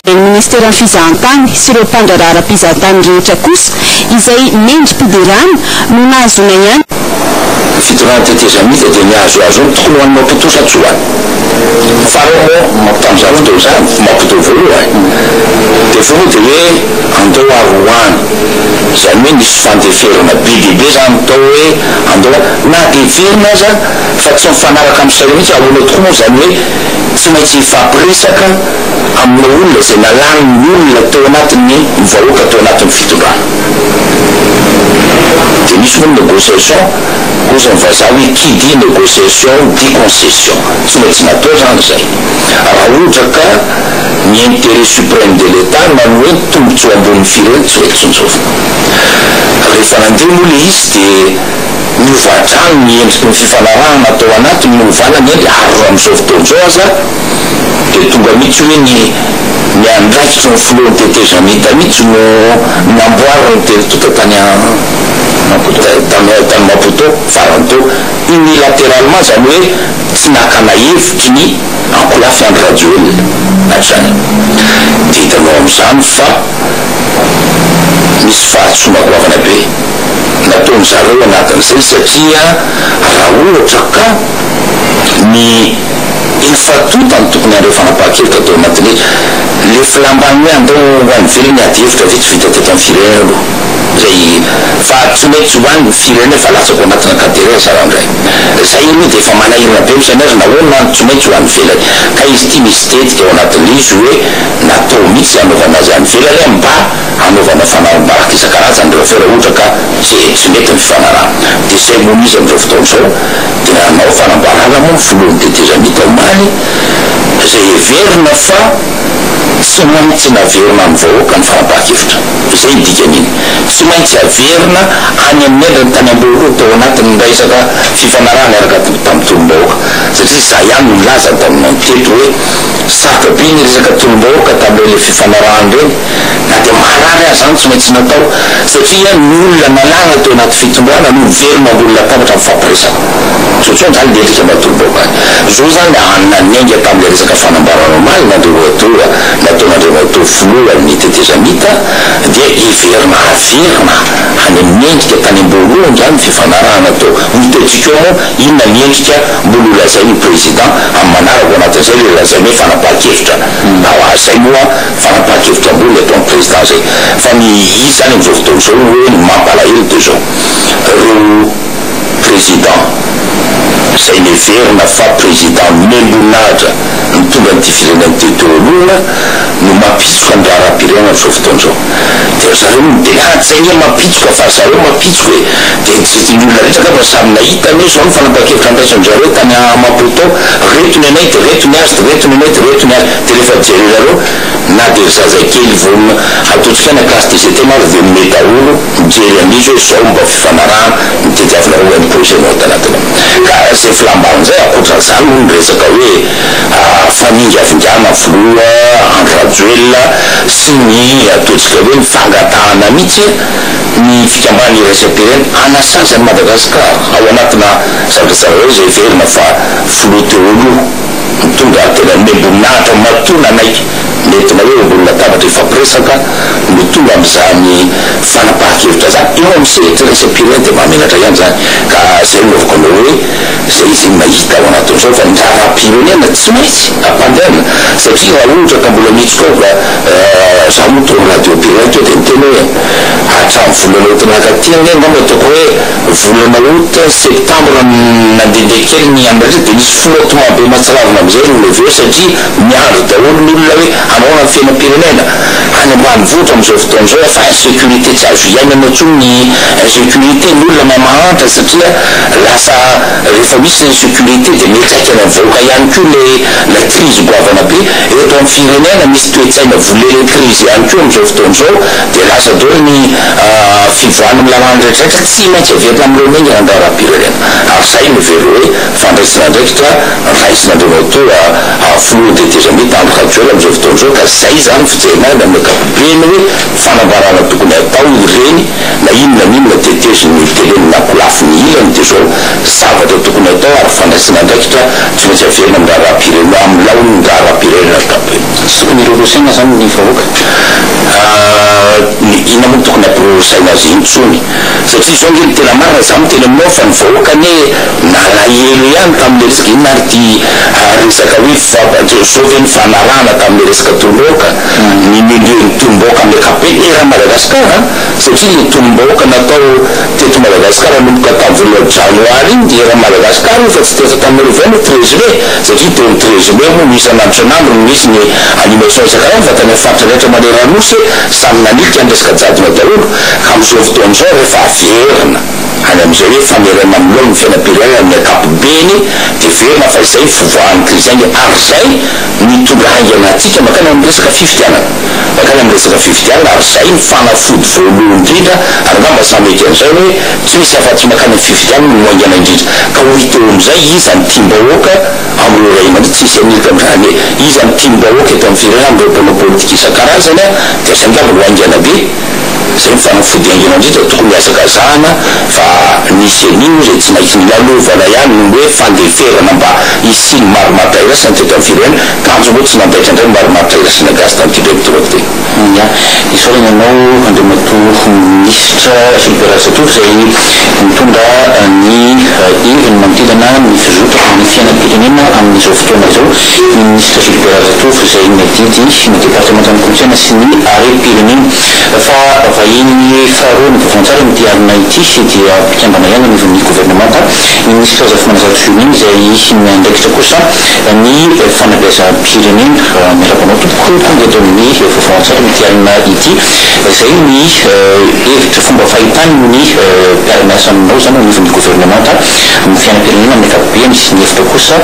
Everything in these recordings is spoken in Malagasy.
ny Ministeran'ny Fizahantany sy ireo mpandraharaha ara-pizahantany rehetra kosa izay mendri-piderana no nahazoana ihany. Ny fitondrana tetezamita dia nihazohazo ny tokony ho an'i Maputo sa tsy ho an'i. Farao moa Maputo tamin'izany fotoana izany, Maputo voalohany, dia fony dia hoe andao ary ho any, izany hoe nisy fandeferana be dia be izany tao hoe andao ary na dia velona aza, Fa tsy mifanaraka amin'ny saina mihitsy. Ahoana tokoa moa izany hoe tsy maintsy hifampiresaka amin'ilay olona izay nalan'ny olona teo anatin'ny vahoaka teo anatin'ny fitondrana? Dia misy moa ny négociation, hoy izany vazaha hoe qui dit négociation dit concession. Tsy maintsy natao izany izay raha ohatra ka ny intérêt suprême de l'Etat na ny hoe ny tombontsoa ambonin'ny firenena tsy mety tsinjovina. Rehefa nandeha moa ilay izy dia. Novadrano ny endriky ny fifanarahana tao anatiny no hovànany eny ary raha amin'izao fotoana izao aza dia tonga mihitsy hoe ny ny andraikitry ny filohan'ny tetezamita mihitsy no namboarin'ny telo tonta tany tany Maputo farany teo unilatéralement izany hoe tsy nakana hevitry ny ankolafy Andry Rajoelina hatrany. Dia hitanao amin'izany fa misy fahadisoana goavana be. nataony zareo anatin'izay satria raha ohatra ka ny efa tonta no tokony handray fanapahan-kevitra tao anatin'ny le filamban'ny hoe andao ho any ivelany ady hevitra ve tsy vita teto amin'ny firenena aloha zay fa tsy mety ho any ny firenena fa latsaka ao anatina ka tery aza raha ndray zay aloha dia efa manahirana be misaina azy nahoana no tsy maintsy ho any ivelany ka izy ity misy tetika ao anatin'le izy hoe natao mitsy hanaovana azy any ivelany mba hanaovana fanahim-barika isan-karazany ireo afera ohatra ka tsy tsy mety ny fifanarahana. Dia izay no izy amin'izao fotoana izao dia nanao fanambarana moa ny filohan'ny tetezamita omaly izay heverina fa tsy maintsy naverina amin'ny vahoaka ny fanapahan-kevitra. Izay ny dikan'iny. Tsy maintsy averina any amin'ny endriny tany am-boalohany tao anatin'ny resaka fifanarahana niaraka tamin'ny tolom-bahoaka satria izaho ihany no nilaza taminay teto hoe sarotra be ny resaka tolom-bahoaka tamin'ireny fifanarahana ireny. Na dia marary aza izany tsy maintsy natao satria ny olona nalàna teo anaty fitondrana no miverina ambony latabatra mifampiresaka. Tsotsoa angaha ny endrika mba torobaoka any. Izao izany an, na niainga tamin'ilay resaka fanambarana omaly n'Andriamatoa nataon'Andriamatoa Filohan'ny Tetezamita dia hiverina averina any amin'ny endrika tany am-boalohany angaha ny fifanarahana teo. Hitaitsika eo moa inona ny endrika mbola ho lazain'ny Président amin'ny manaraka ao anatin'izay ilay lazainay fanapahan-kevitra. Zay moa Fanapahan-kevitra ambony eto amin'ny Président zay. Fa ny izy zany amin'izao fotoana izao ny hoe ny mampalahelo dia izao, ireo Président izay neverina fa Président miha-mboninahitra mitondra an'ity firenena ity teo alohana no mampitsoka ny raharaham-pirenena amin'izao fotoana izao. Dia ry zareo no tena ady zay nge mampitsoka fa ry zareo mampitsoka e! Dia ny olona rehetra angamba samy nahita ange izao ny fanapahan-kevitra andraisan-dry zareo tany Amapotao, reto ny anay dia reto ny azy, dia reto ny anay dia reto ny azy. de refa jerenareo na de ry zazakely vo hatodika any classe de CT maro de mimehy daholo mijery an'izy hoe zao mba fifanarahana ny tediavinareo hoe ny projet nao tanatiny ao ka ze filambana zay akoatran'izany moa ny resaka hoe faningavingana filoha Andry Rajoelina sy ny ataontsika hoe ny fangatahana mitsy ny fikambanana iraisam-pirenena hanasazy an'i Madagascar ao anatina zavatra tsarareo izay heverina fa filoha teo aloha. Mitondra an-tena ny miambon'ahitra matoa nanaiky nentina hoe ambony latabatra hifampiresaka no tonga amin'izany fanapahan-kevitra izany. Eo amin'ny sehatra iraisam-pirenena dia mahamenatra ihany izany ka izay no anaovako anao hoe izay izy mahita ao anatin'izao fa ny raharaham-pirenena tsy maintsy ampandehanina satria raha ohatra ka mbola mihitsoka ao ka izaho moa tao amin'ny radiom-pirenena teo dia niteny hoe hatramin'ny volana août naka aty anie angamba ataoko hoe Volana août, septembre no nandehandeha kely ny Amarisa dia nisy flottement be mahatsiravina amin'izay ireo levy ireo satria miandry daholo ny olona hoe hanaoana ny fiainam-pirenena any ambanivohitra amin'izao fotoana izao efa insecurité tsy azo hiainana intsony ny insecurité ny olona mahay mahantra satria lasa rehefa misy ny insecurité dia miantraika any amin'ny vahoaka ihany koa ilay ilay crise goavana be eto amin'ny firenena misy toe-tsaina volely crise ihany koa amin'izao fotoana izao Dia lasa daholo ny fivoahana amin'ny lalàna rehetrarehetra, tsy maintsy averina amin'ireo miaingana ny raharaham-pirenena. Ary izay no very hoe fandraisan'andraikitra raisin'Andriamatoa Filoha tetezamita Andry Rajoelina amin'izao fotoana izao, ka izay izany no fijerena azy amin'ny ankapobeny hoe fanambarana tokony hatao ireny na inona na inona teteziny tele na kolafiny ilany dia izao zavatra tokony hatao ary fandraisan'andraikitra tsy maintsy averina amin'ny raharaham-pirenena amin'ny laoniny raharaham-pirenena ankapobeny. Tokony hirorosaina zany ny vahoaka an, inona moa no tokony hampirorosaina azy intsony satria zao nge ny tena marina za miteny aminao fa ny vahoaka anie nalahelo ihany tamle resaka inona ary ty resaka hoe fifampa-, zao ve ny fanarahana tamle resaka tolom-bahoaka, ny milieu ny tolom-bahoaka amle ankapobeny eran'i Madagascar an, satria le tolom-bahoaka natao teto Madagascar nanomboka tam vola janoary iny dia eran'i Madagascar io fa tsy teto Antananarivo ihany io treize mai. satria Don Trejillo moa no isan'ny andro isan'andro no misy ny animation isan-karazany fa tany amin'ny faritra rehetra manerana Nosy samy nanilika ny resaka jadona daholo ka amin'izao fotoana izao rehefa averina any amin'izay hoe fanerena amin'ny laoniny ny fiainam-pirenena amin'ny ankapobeny dia heverina fa izay fivoahan'ny krizy any ary izay mitondra haingana antsika mankany amin'ny resaka fifidianana. mankany amin'ny resaka fifidianana ary izay ny fanafody voalohany indrindra ary angamba samy mety an'izay hoe tsy misy afa-tsy mankany amin'ny fifidianana no haingana indrindra ka ho hita eo amin'izay iza no tiam-bahoaka amin'ireo ray aman-dreny tsy hisy hanilika amin'izany hoe iza no tiam-bahoaka eto amin'ny firenena amin'ireo mpanao politika isan-karazany dia izay angamba no haingana be Izay ny fanafody haingana indrindra tokony hazakazahana fa nisy an'io izay tsy maintsy nolalovana ihany noho ny hoe fandeferana mba hisian'ny marimaritra iraisana teto amin'ny firenena. Tanjona hoe tsy nandaitra indray ny marimaritra iraisana gasy tamin'ity indray ny toroako teny. Ia. Isaorana ianao Andriamatoa Minisitra Philippe Razatovo izay nitondra ny heviny manodidina ny fizotana ny fiainam-pirenena amin'izao fotoana izao. ny minisitra Jules Razatovo izay miadidy ny departemantan'ny kolontsaina sy ny harem-pirenena. Fa vahiny faharoa any Bovoantsara amin'ity alina ity dia mpikambana ihany anivon'ny governemanta ny minisitra Zafimanazalo Julien izay miandraikitra kosa ny fanabeazam-pirenena. Miarahaba anao tompoko tonga eto amin'ny Bovoantsara amin'ity alina ity. Izay ny hevitra fomba fahitany ny mpiara-miasa aminao izany ao anivon'ny governemanta amin'ny fiainam-pirenena amin'ny ankapobeny sy ny hevitra kosa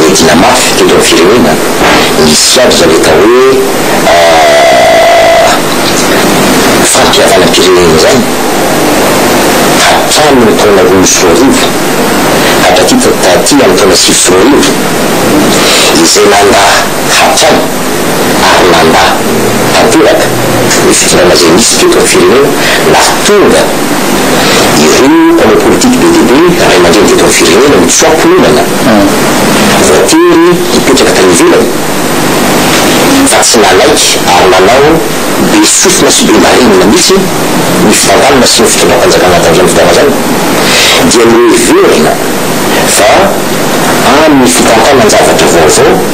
Miadina mafy teto am firenena nisy aby zany atao hoe fampihavanam pirenena zany hatramin ny taona roa sy roa arivo hatraty taty am taona sivy sy roa arivo izay nanda hatrany ary mandà tanteraka ny fitondrana izay nisy teto ny firenena nahatonga ireo mpanao politika be dia be ray aman-dreny teto amin'ny firenena ny tsoaponana voatery hipetraka tany ivelany fa tsy nanaiky ary nanao be sofina sy be marenina mihitsy ny fandaminana sy ny fitondram-panjakana tamin'izany fotoana izany dia noheverina fa amin'ny fitantanan-javatra vaovao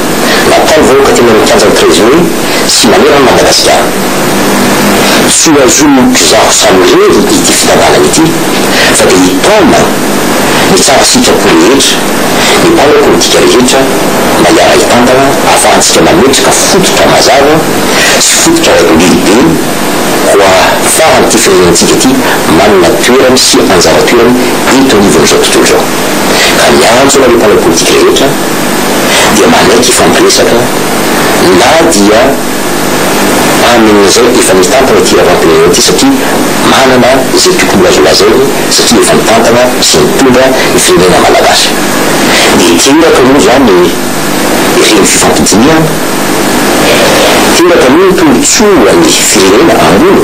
Natao vahoaka teny amin'ny kianjan'ny Trezory sy manerana an'i Madagasikara. Tsy hohazonin'ny mpizaha samy irery ity fitantanana ity fa dia hitaona ny tsara sitrapo rehetra ny mpanao politika rehetra mba hiara-hitantana ahafahantsika mametraka fototra mazava sy fototra lehibe ho ahafahan'ity firenentsika ity manana toerany sy anjara toerany eto anivon'izao tontolo izao. Ka miantso anareo mpanao politika rehetra. dia manaiky hifampiresaka na dia amin'izay efa nitantana ity raharaham-pirenena ity satria manana izay tokony ho azo lazainy satria efa nitantana sy nitondra ny firenena malagasy. Dia teraka moa izany ireny fifampidinihana, teraka moa ny tombontsoan'ny firenena ambony